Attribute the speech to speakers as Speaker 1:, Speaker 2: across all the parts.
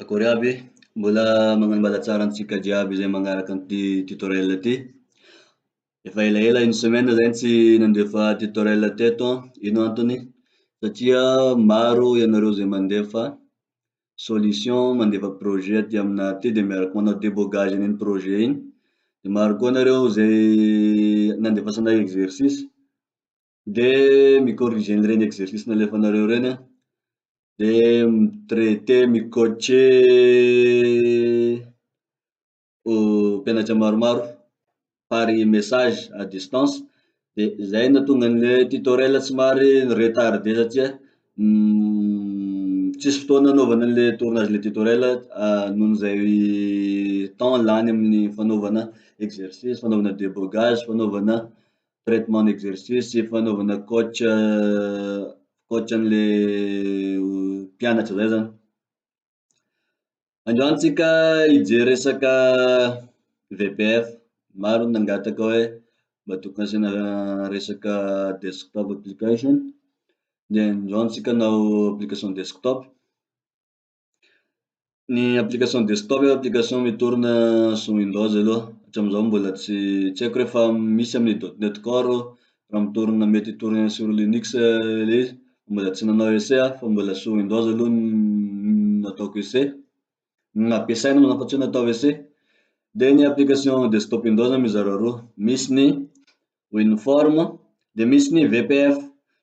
Speaker 1: Akory aby e! Mbola magnambala tsara antsika jiaby izay magnaraka an'ity tutoriel ty. Efa elaela une semaine zahay tsy nandefa tutoriel teto an, ino antony? Satria maro ianareo izay mandefa solution, mandefa projet aty amina aty de miaraka manao debogage an'iny projet iny, de maro koa nareo izay nandefasanay exercice. de mi-corriger an'ireny exercice nalefanareo ireny an, de mi-traiter, mi-coacher mpianatra maromaro par message à distance, de zay no nahatonga anle tutoriel somary ni-retarde satria tsisy fotoana anaovana anle tournage le tutoriel noho izay temps lany amin'ny fanaovana exercice, fanaovana debogage, fanaovana traitement exercice sy fanaovana coach coach anle mpianatra zay zany, androany tsika hijery resaka VPF, maro ny nangataka hoe mba tokony asiana resaka desktop application, de androany tsika hanao application desktop. Ny application desktop eo application mi-tourne sous windows aloha, hatramin'izao mbola tsy tsy haiko rehefa misy amin'ny dot net core eo raha mi-tourne mety hi-tourne sur linux ilay izy, mbola tsy nanao essai aho fa mbola sous windows aloha no nataoko essai, no nampiasaina moa zany fa tsy hoe natao essai. Dia ny application desktop indrindra zany mizara roa, misy ny uniforme dia misy ny VPF,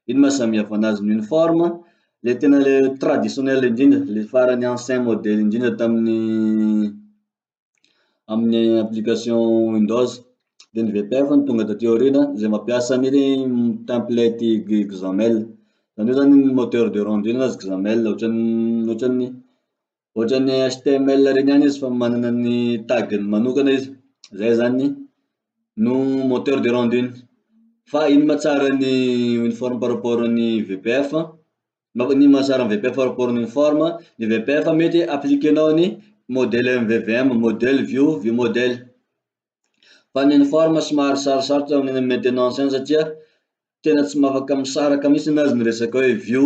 Speaker 1: ino ma samy hafa anazy, ny uniforme le tena le traditionnel indrindra le farany ancien modely indrindra tamin'ny amin'ny application windows, dia ny VPF no tonga taty aoriana izay mampiasa ny template XAML, zany hoe zany moteur de rendu anazy XAML, ohatran'ny ohatran'ny Ohatran'ny html reny ihany izy fa manana ny tag-ny manokana izy, zay zany no moteur de rendu-ny. Fa ino ma tsara ny uniform par rapport ny VPF? Mba ino ma tsara ny VPF par rapport ny uniform? Ny VPF mety appliquer-nao ny modèle MVVM, modèle view, view model. Fa ny uniform somary sarosarotra ny amin'ny maintenance any satria tena tsy afaka misaraka mihintsiny ny azy ny resaka hoe view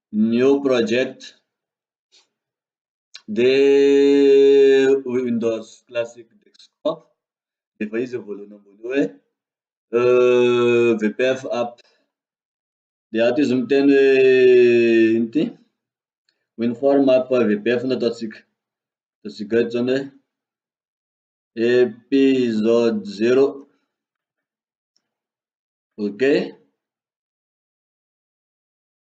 Speaker 1: New project dia windows classic desktop dia efa izy voalohany ambony eo hoe vpf app dia ato izy miteny hoe ino ity winform app vpf no ataontsika ataontsika eto izany hoe episode zero ok.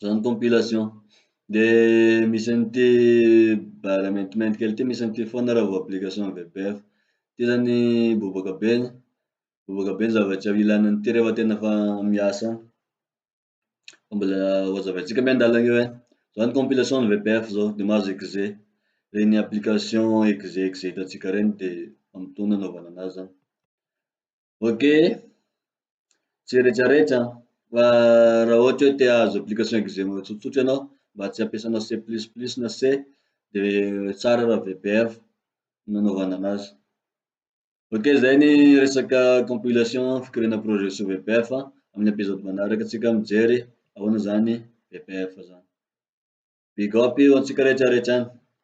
Speaker 1: zany compilation. De misy an'ity bare maintimainty kely ity misy an'ity foana raha vao application vpf. Ty zany bobaka be, bobaka be ny zavatra ilana an'ity rehefa tena fa miasa any. Fa mbola hozavaintsika miandalana eo e. Zao ny compilation ny vpf zao de mahazo exe, reny application exe exe hitantsika reny de amin'ny fotoana anaovana anazy zany. Ok, tsy retraretra an, fa raha ohatra hoe te hahazo application execo tsotsotra ianao mba tsy ampiasanao C plus plus na C de tsara raha VPF no anaovana anazy. Ok zay ny resaka compilation fikirihana projet sous VPF an, amin'ny episode manaraka tsika mijery ahoana zany VPF zany. Big up ho antsika retraretra any.